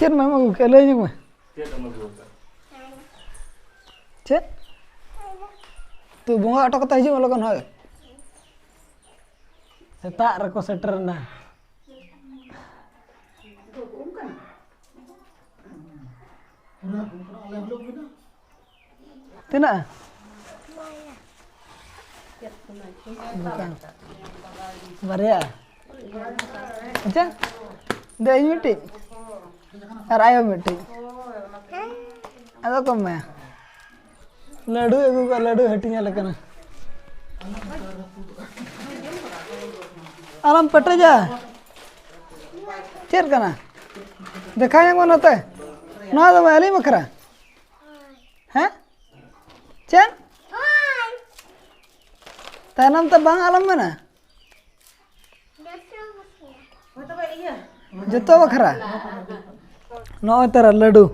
ᱪᱮᱫ ᱢᱟᱢ ᱟᱹᱜᱩ ᱠᱮᱫᱼᱟ ᱞᱟᱹᱭ ᱧᱚᱜ ᱢᱮ ᱪᱮᱫ ᱛᱩ ᱵᱚᱸᱜᱟ ᱚᱴᱚ ᱠᱟᱛᱮ ᱦᱤᱡᱩᱜ ᱢᱮ ᱞᱚᱜᱚᱱ ᱦᱳᱭ ᱥᱮᱛᱟᱜ ᱨᱮᱠᱚ ᱥᱮᱴᱮᱨᱮᱱᱟ ᱛᱤᱱᱟᱹᱜ ᱵᱟᱨᱭᱟ ᱟᱪᱪᱷᱟ ᱫᱮ ᱤᱧ ᱢᱤᱫᱴᱤᱡ ᱟᱨ ᱟᱭᱳ ᱢᱤᱫᱴᱤᱡ ᱟᱫᱚ ᱠᱚ ᱮᱢᱟᱭᱟ ᱞᱟᱹᱰᱩ ᱟᱹᱜᱩ ᱠᱟᱜ ᱞᱟᱹᱰᱩ ᱦᱟᱹᱴᱤᱧ ᱟᱞᱮ ᱠᱟᱱᱟ ᱟᱞᱚᱢ ᱯᱮᱴᱮᱡᱟ ᱪᱮᱫ ᱠᱟᱱᱟ ᱫᱮᱠᱷᱟᱣ ᱧᱟᱢᱚᱜ ᱱᱚᱛᱮ ᱱᱚᱣᱟ ᱫᱚ ᱟᱹᱞᱤᱧ ᱵᱟᱠᱷᱨᱟ ᱦᱮᱸ ᱪᱮᱫ ᱛᱟᱭᱱᱚᱢ ᱛᱮ ᱵᱟᱝ ᱟᱞᱚᱢ ᱢᱮᱱᱟ ᱡᱚᱛᱚ ᱵᱟᱠᱷᱨᱟ ᱱᱚᱜᱼᱚᱭ ᱛᱟᱨᱟ ᱞᱟᱹᱰᱩ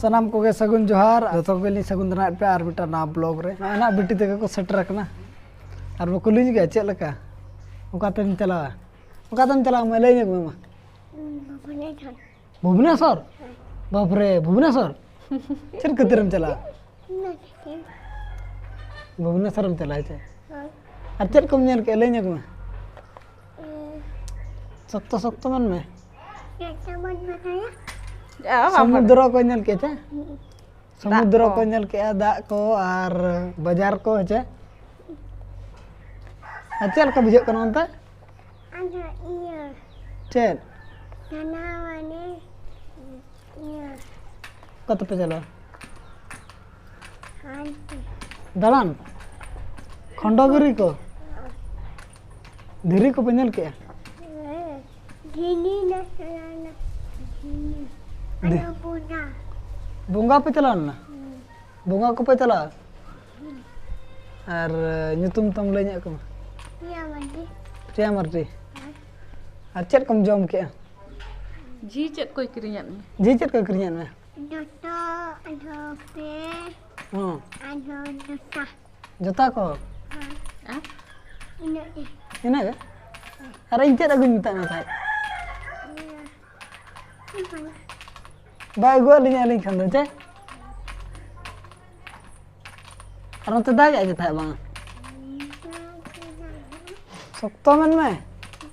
ᱥᱟᱱᱟᱢ ᱠᱚᱜᱮ ᱥᱟᱹᱜᱩᱱ ᱡᱚᱦᱟᱨ ᱡᱚᱛᱚ ᱠᱚᱜᱮ ᱞᱤᱧ ᱥᱟᱹᱜᱩᱱ ᱫᱟᱨᱟᱭᱮᱫ ᱯᱮᱭᱟ ᱟᱨ ᱢᱤᱫᱴᱟᱝ ᱱᱟᱣᱟ ᱵᱞᱚᱜ ᱨᱮ ᱱᱚᱜᱼᱚᱭ ᱱᱟᱜ ᱵᱤᱴᱤ ᱛᱮᱜᱮ ᱠᱚ ᱥᱮᱴᱮᱨ ᱟᱠᱟᱱᱟ ᱟᱨ ᱵᱟᱠᱚ ᱞᱤᱧ ᱜᱮᱭᱟ ᱪᱮᱫ ᱞᱮᱠᱟ ᱚᱠᱟᱛᱮᱢ ᱪᱟᱞᱟᱣᱟ ᱚᱠᱟᱛᱮᱢ ᱪᱟᱞᱟᱣᱟ ᱢᱟ ᱞᱟᱹᱭ ᱧᱚᱜ ᱢᱮ ᱢᱟ ᱵᱷᱩᱵᱽᱱᱮᱥᱚᱨ ᱵᱟᱯᱨᱮ ᱵᱷᱩᱵᱽᱱᱮᱥᱚᱨ ᱪᱮᱫ ᱠᱷᱟᱹᱛᱤᱨᱮᱢ ᱪᱟᱞᱟᱜᱼᱟ ᱵᱷᱩᱵᱽᱱᱮᱥᱚᱨᱮᱢ ᱪᱟᱞᱟᱜᱼᱟ ᱪᱮ ᱟᱨ ᱪᱮᱫ ᱠᱚᱢ ᱧᱮᱞ ᱠᱮᱫᱼᱟ ᱞᱟᱹᱭ ᱧᱚᱜᱽ ᱢᱮ ᱥᱚᱠᱛᱚ ᱥᱚᱠᱛᱚ ᱢᱮᱱ ᱢᱮ ᱥᱚᱢᱩᱫᱨᱚ ᱠᱚ ᱧᱮᱞ ᱠᱮᱫᱼᱟ ᱪᱮ ᱥᱚᱢᱩᱫᱨᱚ ᱠᱚ ᱧᱮᱞ ᱠᱮᱜᱼᱟ ᱫᱟᱜ ᱠᱚ ᱟᱨ ᱵᱟᱡᱟᱨ ᱠᱚ ᱦᱮᱸᱪᱮ ᱟᱨ ᱪᱮᱫ ᱞᱮᱠᱟ ᱵᱩᱡᱷᱟᱹᱜ ᱠᱟᱱᱟ ᱚᱱᱛᱮ ᱪᱮᱫ ᱚᱠᱟ ᱛᱮᱯᱮ ᱪᱟᱞᱟᱜᱼᱟ ᱫᱟᱬᱟᱱ ᱠᱷᱚᱱᱰᱚᱜᱤᱨᱤ ᱠᱚ ᱫᱷᱤᱨᱤ ᱠᱚᱯᱮ ᱧᱮᱞ ᱠᱮᱜᱼᱟ ᱵᱚᱸᱜᱟ ᱯᱮ ᱪᱟᱞᱟᱣ ᱞᱮᱱᱟ ᱵᱚᱸᱜᱟ ᱠᱚᱯᱮ ᱪᱟᱞᱟᱜᱼᱟ ᱟᱨ ᱧᱩᱛᱩᱢ ᱛᱟᱢ ᱞᱟᱹᱭ ᱧᱚᱜ ᱠᱚᱢᱟ ᱯᱨᱤᱭᱟ ᱢᱟᱨᱰᱤ ᱟᱨ ᱪᱮᱫ ᱠᱚᱢ ᱡᱚᱢ ᱠᱮᱜᱼᱟ ᱡᱤ ᱪᱮᱫ ᱠᱚᱭ ᱠᱤᱨᱤᱧᱟᱫ ᱢᱮ ᱡᱤ ᱪᱮᱫ ᱠᱚᱭ ᱠᱤᱨᱤᱧᱟᱫ ᱢᱮ ᱡᱚᱛᱚ ᱟᱫᱚ ᱯᱮ ᱦᱚᱸ ᱟᱫᱚ ᱡᱚᱛᱚ ᱡᱚᱛᱟ ᱠᱚ ᱟᱨ ᱤᱱᱟᱹᱜ ᱜᱮ ᱤᱱᱟᱹᱜ ᱜᱮ ᱟᱨ ᱤᱧ ᱪᱮᱫ ᱟᱹᱜᱩᱧ ᱢᱮᱛᱟᱫ ᱢᱮ ᱛᱟᱦᱮᱸᱫ ᱵᱟᱭ ᱟᱹᱜᱩᱣᱟᱜ ᱞᱤᱧ ᱟᱹᱞᱤᱧ ᱠᱷᱟᱱ ᱫᱚ ᱪᱮᱫ ᱟᱨ ᱱᱚᱛᱮ ᱫᱟᱜᱮᱫ ᱜᱮ ᱛᱟᱦᱮᱸᱫ ᱵᱟᱝ ᱥᱚᱠᱛᱚ ᱢᱮᱱ ᱢᱮ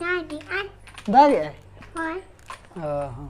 ᱫᱟᱜᱮᱜᱼᱟᱭ ᱫᱟᱜᱮᱜᱼᱟᱭ ᱦᱳᱭ ᱚ ᱦᱚᱸ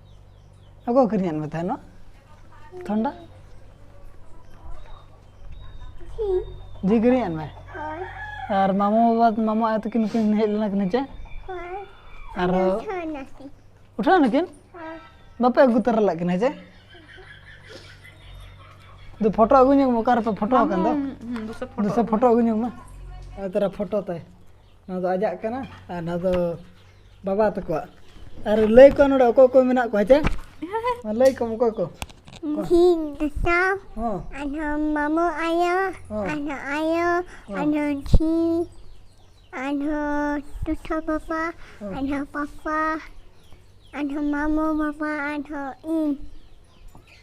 ᱚᱠᱚᱭ ᱠᱤᱨᱤᱧᱟᱫ ᱢᱮ ᱛᱟᱦᱮᱱᱟ ᱛᱷᱚᱱᱰᱟ ᱡᱤ ᱠᱤᱨᱤᱧᱟᱫ ᱢᱮ ᱟᱨ ᱢᱟᱢᱚ ᱵᱟᱵᱟ ᱢᱟᱢᱚ ᱟᱭᱳ ᱛᱟᱹᱠᱤᱱ ᱠᱤᱱ ᱦᱮᱡ ᱞᱮᱱᱟ ᱠᱤᱱ ᱦᱮᱸᱪᱮ ᱟᱨ ᱩᱴᱷᱟᱹᱣ ᱱᱟᱹᱠᱤᱱ ᱵᱟᱯᱮ ᱟᱹᱜᱩ ᱛᱟᱨᱟ ᱞᱮᱫ ᱠᱤᱱᱟ ᱦᱮᱸᱪᱮ ᱫᱩ ᱯᱷᱳᱴᱳ ᱟᱹᱜᱩ ᱧᱚᱜ ᱢᱮ ᱚᱠᱟᱨᱮᱯᱮ ᱯᱷᱳᱴᱳ ᱟᱠᱟᱱ ᱫᱚ ᱫᱩᱥᱮ ᱯᱷᱳᱴᱳ ᱟᱹᱜᱩ ᱧᱚᱜ ᱢᱮ ᱛᱮᱨᱟ ᱯᱷᱳᱴᱳ ᱛᱟᱭ ᱱᱚᱣᱟ ᱫᱚ ᱟᱡᱟᱜ ᱠᱟᱱᱟ ᱟᱨ ᱱᱚᱣᱟ ᱫᱚ ᱵᱟᱵᱟ ᱛᱟᱠᱚᱣᱟᱜ ᱟᱨ ᱞᱟᱹᱭ ᱠᱚᱣᱟ ᱱᱚᱰᱮ ᱚᱠᱚᱭ ᱠᱚ ᱢᱮᱱᱟᱜ ᱠᱚᱣᱟ ᱦᱮᱸᱪᱮ ᱢᱟ ᱞᱟᱹᱭ ᱠᱚᱢ ᱚᱠᱚᱭ ᱠᱚ ᱤᱧ ᱫᱤᱥᱟ ᱦᱚᱸ ᱟᱨᱦᱚᱸ ᱢᱟᱢᱚ ᱟᱭᱳ ᱦᱚᱸ ᱟᱨᱦᱚᱸ ᱟᱭᱳ ᱟᱨᱦᱚᱸ ᱡᱷᱤ ᱟᱨᱦᱚᱸ ᱴᱩᱴᱷᱟ ᱵᱟᱵᱟ ᱟᱨᱦᱚᱸ ᱯᱟᱯᱟ ᱟᱨᱦᱚᱸ ᱢᱟᱢᱚ ᱵᱟᱵᱟ ᱟᱨᱦᱚᱸ ᱤᱧ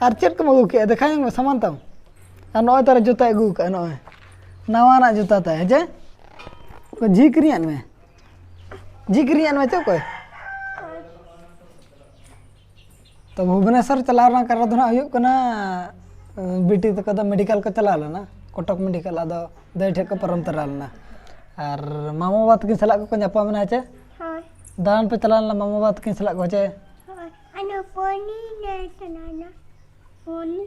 ᱟᱨ ᱪᱮᱫ ᱠᱚᱢ ᱟᱹᱜᱩ ᱠᱮᱫᱼᱟ ᱫᱮᱠᱷᱟᱣ ᱧᱚᱜᱽ ᱢᱮ ᱥᱟᱢᱟᱱ ᱛᱟᱢ ᱟᱨ ᱱᱚᱜᱼᱚᱭ ᱛᱟᱨᱮ ᱡᱩᱛᱟᱹᱭ ᱟᱹᱜᱩ ᱠᱟᱜᱼᱟ ᱱᱚᱜᱼᱚᱭ ᱱᱟᱣᱟᱱᱟᱜ ᱡᱩᱛᱟᱹ ᱛᱟᱭ ᱦᱮᱸ ᱪᱮ ᱡᱷᱤ ᱠᱤᱨᱤᱧᱟᱫ ᱢᱮ ᱡᱷᱤ ᱠᱤᱨᱤᱧᱟᱫ ᱢᱮ ᱪᱮ ᱚᱠᱚᱭ ᱛᱚ ᱵᱷᱩᱵᱽᱱᱮᱥᱚᱨ ᱪᱟᱞᱟᱣ ᱨᱮᱱᱟᱜ ᱠᱟᱨᱚᱱ ᱫᱚ ᱦᱟᱸᱜ ᱦᱩᱭᱩᱜ ᱠᱟᱱᱟ ᱵᱤᱴᱤ ᱛᱟᱠᱚ ᱫᱚ ᱢᱮᱰᱤᱠᱮᱞ ᱠᱚ ᱪᱟᱞᱟᱣ ᱞᱮᱱᱟ ᱠᱚᱴᱚᱠ ᱢᱮᱰᱤᱠᱮᱞ ᱟᱫᱚ ᱫᱟᱹᱭ ᱴᱷᱮᱡ ᱠᱚ ᱯᱟᱨᱚᱢ ᱛᱚᱨᱟ ᱞᱮᱱᱟ ᱟᱨ ᱢᱟᱢᱚ ᱵᱟᱵᱟ ᱛᱟᱹᱠᱤᱱ ᱥᱟᱞᱟᱜ ᱠᱚᱠᱚ ᱧᱟᱯᱟᱢ ᱮᱱᱟ ᱦᱮᱸ ᱪᱮ ᱫᱟᱬᱟᱱ ᱯᱮ ᱪᱟᱞᱟᱣ ᱞᱮᱱᱟ ᱢᱟᱢᱚ ᱵᱟᱵᱟ ᱛᱟᱹᱠᱤᱱ ᱥᱟᱞᱟᱜ ᱠᱚ ᱦᱮᱸ ᱪᱮ ᱟᱱᱟ ᱯᱚᱱᱤ ᱱᱮ ᱥᱟᱱᱟᱱᱟ ᱯᱚᱱᱤ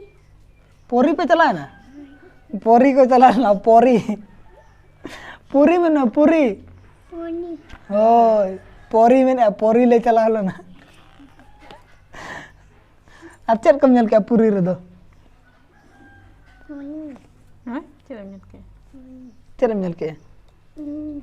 ᱯᱚᱨᱤ ᱯᱮ ᱪᱟᱞᱟᱣᱱᱟ ᱯᱚᱨᱤ ᱠᱚ ᱪᱟᱞᱟᱣᱱᱟ ᱯᱚᱨᱤ ᱯᱩᱨᱤ ᱢᱮᱱᱟ ᱯᱩᱨᱤ ᱯᱚᱱᱤ ᱦᱳᱭ ᱯᱚᱨᱤ ᱢᱮᱱᱟ ᱯᱚᱨᱤ ᱞᱮ ᱪᱟᱞᱟᱣ ᱞᱮᱱᱟ ᱟᱨ ᱪᱮᱫ ᱠᱚᱢ ᱧᱮᱞ ᱠᱮᱜᱼᱟ ᱯᱩᱨᱤ ᱨᱮᱫᱚ ᱯᱚᱱᱤ ᱦᱮᱸ ᱪᱮᱫ ᱮᱢ ᱧᱮᱞ ᱠᱮᱫᱟ ᱪᱮᱫ ᱮᱢ ᱧᱮᱞ ᱠᱮᱜᱼᱟ ᱤᱧ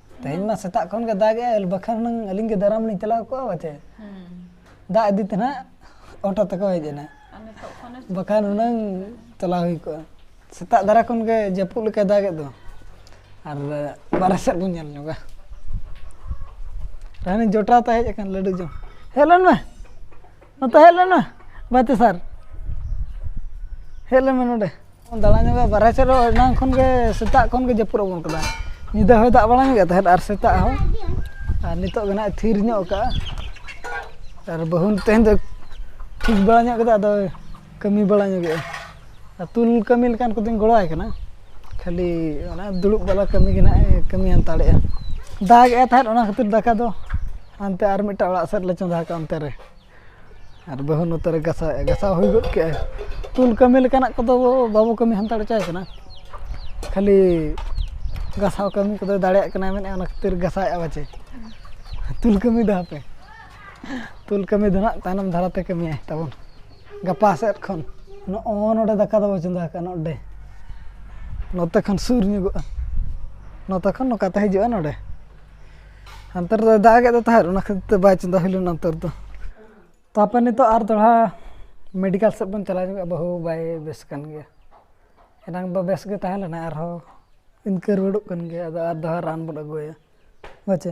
ᱛᱮᱦᱮᱧ ᱢᱟ ᱥᱮᱛᱟᱜ ᱠᱷᱚᱱ ᱜᱮ ᱫᱟᱜ ᱮᱜᱼᱟ ᱵᱟᱠᱷᱟᱱ ᱦᱩᱱᱟᱹᱝ ᱟᱹᱞᱤᱧ ᱜᱮ ᱫᱟᱨᱟᱢ ᱞᱤᱧ ᱪᱟᱞᱟᱣ ᱠᱚᱜᱼᱟ ᱵᱟᱪᱮ ᱫᱟᱜ ᱤᱫᱤ ᱛᱮ ᱱᱟᱦᱟᱜ ᱚᱴᱳ ᱛᱮᱠᱚ ᱦᱮᱡ ᱮᱱᱟ ᱵᱟᱠᱷᱟᱱ ᱦᱩᱱᱟᱹᱝ ᱪᱟᱞᱟᱣ ᱦᱩᱭ ᱠᱚᱜᱼᱟ ᱥᱮᱛᱟᱜ ᱫᱷᱟᱨᱟ ᱠᱷᱚᱱ ᱜᱮ ᱡᱟᱹᱯᱩᱫ ᱞᱮᱠᱟᱭ ᱫᱟᱜᱮᱫ ᱫᱚ ᱟᱨ ᱵᱟᱨᱦᱮ ᱥᱮᱫ ᱵᱚᱱ ᱧᱮᱞ ᱧᱚᱜᱟ ᱨᱟᱱᱤ ᱡᱚᱴᱟᱣ ᱛᱮ ᱦᱮᱡ ᱟᱠᱟᱱ ᱞᱟᱹᱰᱩ ᱡᱚᱢ ᱦᱮᱡ ᱞᱮᱱ ᱢᱮ ᱱᱚᱛᱮ ᱦᱮᱡ ᱞᱮᱱ ᱢᱮ ᱵᱟᱹᱛᱤ ᱥᱟᱨ ᱦᱮᱡ ᱞᱮᱱ ᱢᱮ ᱱᱚᱰᱮ ᱫᱟᱬᱟ ᱧᱚᱜᱟ ᱵᱟᱨᱦᱮ ᱥᱮᱫ ᱨᱮ ᱮᱱᱟᱝ ᱠᱷᱚᱱ ᱜᱮ ᱥᱮᱛᱟᱜ ᱠᱷᱚᱱ ᱜᱮ ᱡᱟᱹᱯᱩᱫ ᱟᱵᱚᱱ ᱠᱟᱱᱟ ᱧᱤᱫᱟᱹ ᱦᱚᱸᱭ ᱫᱟᱜ ᱵᱟᱲᱟ ᱧᱚᱜᱮᱫ ᱛᱟᱦᱮᱸᱫ ᱟᱨ ᱥᱮᱛᱟᱜ ᱦᱚᱸ ᱟᱨ ᱱᱤᱛᱚᱜ ᱜᱮ ᱦᱟᱸᱜ ᱛᱷᱤᱨ ᱧᱚᱜ ᱠᱟᱜᱼᱟ ᱟᱨ ᱵᱟᱹᱦᱩ ᱛᱮᱦᱮᱧ ᱫᱚ ᱴᱷᱤᱠ ᱵᱟᱲᱟ ᱧᱚᱜ ᱠᱮᱫᱟ ᱟᱫᱚ ᱠᱟᱹᱢᱤ ᱵᱟᱲᱟ ᱧᱚᱜᱮᱜᱼᱟ ᱟᱹᱛᱩ ᱠᱟᱹᱢᱤ ᱞᱮᱠᱟᱱ ᱠᱚᱫᱚᱧ ᱜᱚᱲᱚᱣᱟᱭ ᱠᱟᱱᱟ ᱠᱷᱟᱹᱞᱤ ᱚᱱᱟ ᱫᱩᱲᱩᱵ ᱵᱟᱞᱟ ᱠᱟᱹᱢᱤ ᱜᱮ ᱦᱟᱸᱜ ᱮ ᱠᱟᱹᱢᱤ ᱦᱟᱛᱟᱲᱮᱜᱼᱟ ᱫᱟᱜ ᱮᱜ ᱛᱟᱦᱮᱸᱜ ᱚᱱᱟ ᱠᱷᱟᱹᱛᱤᱨ ᱫᱟᱠᱟ ᱫᱚ ᱦᱟᱱᱛᱮ ᱟᱨ ᱢᱤᱫᱴᱟᱱ ᱚᱲᱟᱜ ᱥᱮᱫ ᱞᱮ ᱪᱚᱸᱫᱟ ᱠᱟᱜᱼᱟ ᱚᱱᱛᱮ ᱨᱮ ᱟᱨ ᱵᱟᱹᱦᱩ ᱱᱚᱛᱮ ᱨᱮ ᱜᱟᱥᱟᱣ ᱮᱜᱼᱟ ᱜᱟᱥᱟᱣ ᱦᱩᱭ ᱜᱚᱫ ᱠᱮᱜ ᱟᱭ ᱛᱩᱞ ᱠᱟᱹᱢᱤ ᱞᱮᱠᱟᱱᱟᱜ ᱠᱚᱫᱚ ᱵᱟᱵᱚ ᱠᱟᱹᱢᱤ ᱦᱟᱛᱟᱲ ᱦᱚᱪᱚᱣᱟᱭ ᱠᱟᱱᱟ ᱠᱷᱟᱹᱞᱤ ᱜᱟᱥᱟᱣ ᱠᱟᱹᱢᱤ ᱠᱚᱫᱚᱭ ᱫᱟᱲᱮᱭᱟᱜ ᱠᱟᱱᱟᱭ ᱢᱮᱱᱮᱫ ᱚᱱᱟ ᱠᱷᱟᱹᱛᱤᱨ ᱜᱟᱥᱟᱣ ᱮᱜᱼᱟ ᱯᱟᱪᱮ ᱛᱩᱞ ᱠᱟᱹᱢᱤ ᱫᱚ ᱦᱟᱯᱮ ᱛᱩᱞ ᱠᱟᱹᱢᱤ ᱫᱚ ᱦᱟᱸᱜ ᱛᱟᱭᱱᱚᱢ ᱫᱷᱟᱨᱟᱛᱮ ᱠᱟᱹᱢᱤᱭᱟᱭ ᱛᱟᱵᱚᱱ ᱜᱟᱯᱟ ᱥᱮᱫ ᱠᱷᱚᱱ ᱱᱚᱜᱼᱚ ᱱᱚᱰᱮ ᱫᱟᱠᱟ ᱫᱚᱵᱚ ᱪᱚᱸᱫᱟ ᱟᱠᱟᱫᱼᱟ ᱱᱚᱰᱮ ᱱᱚᱛᱮ ᱠᱷᱚᱱ ᱥᱩᱨ ᱧᱚᱜᱚᱜᱼᱟ ᱱᱚᱛᱮ ᱠᱷᱚᱱ ᱱᱚᱝᱠᱟᱛᱮ ᱦᱤᱡᱩᱜᱼᱟ ᱱᱚᱰᱮ ᱦᱟᱱᱛᱮ ᱨᱮᱫᱚᱭ ᱫᱟᱜ ᱮᱫ ᱛᱟᱦᱮᱸᱫ ᱚᱱᱟ ᱠᱷᱟᱹᱛᱤᱨ ᱛᱮ ᱵᱟᱭ ᱪᱚᱸᱫᱟ ᱦᱩᱭ ᱞᱮᱱᱟ ᱱᱚᱛᱮ ᱨᱮᱫᱚ ᱛᱟᱨᱯᱚᱨ ᱱᱤᱛᱚᱜ ᱟᱨ ᱫᱚᱦᱲᱟ ᱢᱮᱰᱤᱠᱮᱞ ᱥᱮᱫ ᱵᱚᱱ ᱪᱟᱞᱟᱣ ᱧᱚᱜᱚᱜᱼᱟ ᱵᱟᱹᱦᱩ ᱵᱟᱭ ᱵᱮᱥ ᱠᱟᱱ ᱜᱮᱭᱟ ᱮᱱᱟᱝ ᱫᱚ ᱵᱮᱥ ᱜᱮ ᱛᱟᱦᱮᱸ ᱞᱮᱱᱟᱭ ᱟᱨᱦᱚᱸ ᱤᱱᱠᱟᱹ ᱨᱩᱣᱟᱹᱲᱚᱜ ᱠᱟᱱ ᱜᱮᱭᱟᱭ ᱟᱫᱚ ᱟᱨ ᱫᱚᱦᱲᱟ ᱨᱟᱱ ᱵᱚᱱ ᱟᱹᱜᱩ ᱟᱭᱟ ᱦᱳᱭ ᱪᱮ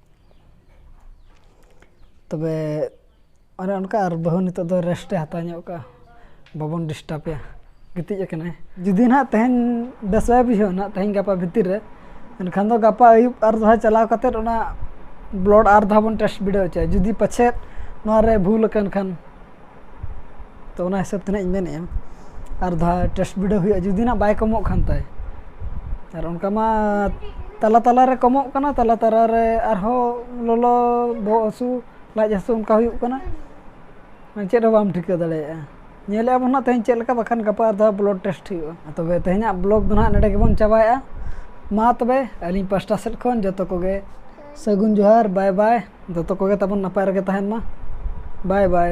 ᱛᱚᱵᱮ ᱚᱱᱮ ᱚᱱᱠᱟ ᱟᱨ ᱵᱟᱹᱦᱩ ᱱᱤᱛᱚᱜ ᱫᱚ ᱨᱮᱥᱴᱮ ᱦᱟᱛᱟᱣ ᱧᱚᱜ ᱠᱟᱜᱼᱟ ᱵᱟᱵᱚᱱ ᱰᱤᱥᱴᱟᱵᱮᱭᱟ ᱜᱤᱛᱤᱡ ᱟᱠᱟᱱᱟᱭ ᱡᱩᱫᱤ ᱱᱟᱦᱟᱜ ᱛᱮᱦᱮᱧ ᱵᱮᱥ ᱵᱟᱭ ᱵᱩᱡᱷᱟᱹᱣᱟ ᱱᱟᱦᱟᱜ ᱛᱮᱦᱮᱧ ᱜᱟᱯᱟ ᱵᱷᱤᱛᱤᱨ ᱨᱮ ᱮᱱᱠᱷᱟᱱ ᱫᱚ ᱜᱟᱯᱟ ᱟᱹᱭᱩᱵ ᱟᱨ ᱫᱚᱲᱦᱟ ᱪᱟᱞᱟᱣ ᱠᱟᱛᱮᱫ ᱚᱱᱟ ᱵᱞᱚᱰ ᱟᱨ ᱫᱷᱟᱣ ᱵᱚᱱ ᱴᱮᱥᱴ ᱵᱤᱰᱟᱹᱣ ᱦᱚᱪᱚᱭᱟ ᱡᱩᱫᱤ ᱯᱟᱪᱷᱮᱫ ᱱᱚᱣᱟ ᱨᱮ ᱵᱷᱩᱞ ᱟᱠᱟᱱ ᱠᱷᱟᱱ ᱛᱚ ᱚᱱᱟ ᱦᱤᱥᱟᱹᱵ ᱛᱮ ᱱᱟᱦᱟᱜ ᱤᱧ ᱢᱮᱱᱮᱜᱼᱟ ᱟᱨ ᱫᱷᱟᱣ ᱴᱮᱥᱴ ᱵᱤᱰᱟᱹᱣ ᱦᱩᱭᱩᱜᱼᱟ ᱡᱩᱫᱤ ᱱᱟᱦᱟᱜ ᱵᱟᱭ ᱠᱚᱢᱚᱜ ᱠᱷᱟᱱ ᱛᱟᱭ ᱟᱨ ᱚᱱᱠᱟ ᱢᱟ ᱛᱟᱞᱟ ᱛᱟᱞᱟ ᱨᱮ ᱠᱚᱢᱚᱜ ᱠᱟᱱᱟ ᱛᱟᱞᱟ ᱛᱟᱞᱟ ᱨᱮ ᱟᱨᱦᱚᱸ ᱞᱚᱞᱚ ᱵᱚᱦᱚᱜ ᱦᱟᱹᱥᱩ ᱞᱟᱡ ᱦᱟᱹᱥᱩ ᱚᱱᱠᱟ ᱦᱩᱭᱩᱜ ᱠᱟᱱᱟ ᱢᱟᱱᱮ ᱪᱮᱫ ᱦᱚᱸ ᱵᱟᱢ ᱴᱷᱤᱠᱟᱹ ᱫᱟᱲᱮᱭᱟᱜᱼᱟ ᱧᱮᱞᱮᱜᱼᱟ ᱵᱚᱱ ᱱᱟᱦᱟᱜ ᱛᱮᱦᱮᱧ ᱪᱮᱫ ᱞᱮᱠᱟ ᱵᱟᱠᱷᱟᱱ ᱜᱟᱯᱟ ᱟᱨ ᱫᱷᱟᱣ ᱵᱞᱟᱰ ᱴᱮᱥᱴ ᱦᱩᱭᱩᱜᱼᱟ ᱛᱚᱵᱮ ᱛᱮᱦᱮᱧᱟᱜ ᱵᱞᱚᱜᱽ ᱫᱚ ᱱᱟᱦᱟᱜ ᱱᱚᱰᱮ ᱜᱮᱵᱚᱱ ᱪᱟᱵᱟᱭᱮᱜᱼᱟ ᱢᱟ ᱛᱚᱵᱮ ᱟᱹᱞᱤᱧ ᱯᱟᱥᱴᱟ ᱥᱮᱫ ᱠᱷᱚᱱ ᱡᱚᱛᱚ ᱠᱚᱜᱮ ᱥᱟᱹᱜᱩᱱ ᱡᱚᱦᱟᱨ ᱵᱟᱭ ᱵᱟᱭ ᱡᱚᱛᱚ ᱠᱚᱜᱮ ᱛᱟᱵᱚᱱ ᱱᱟᱯᱟᱭ ᱨᱮᱜᱮ ᱛᱟᱦᱮᱱ ᱢᱟ ᱵᱟᱭ ᱵᱟᱭ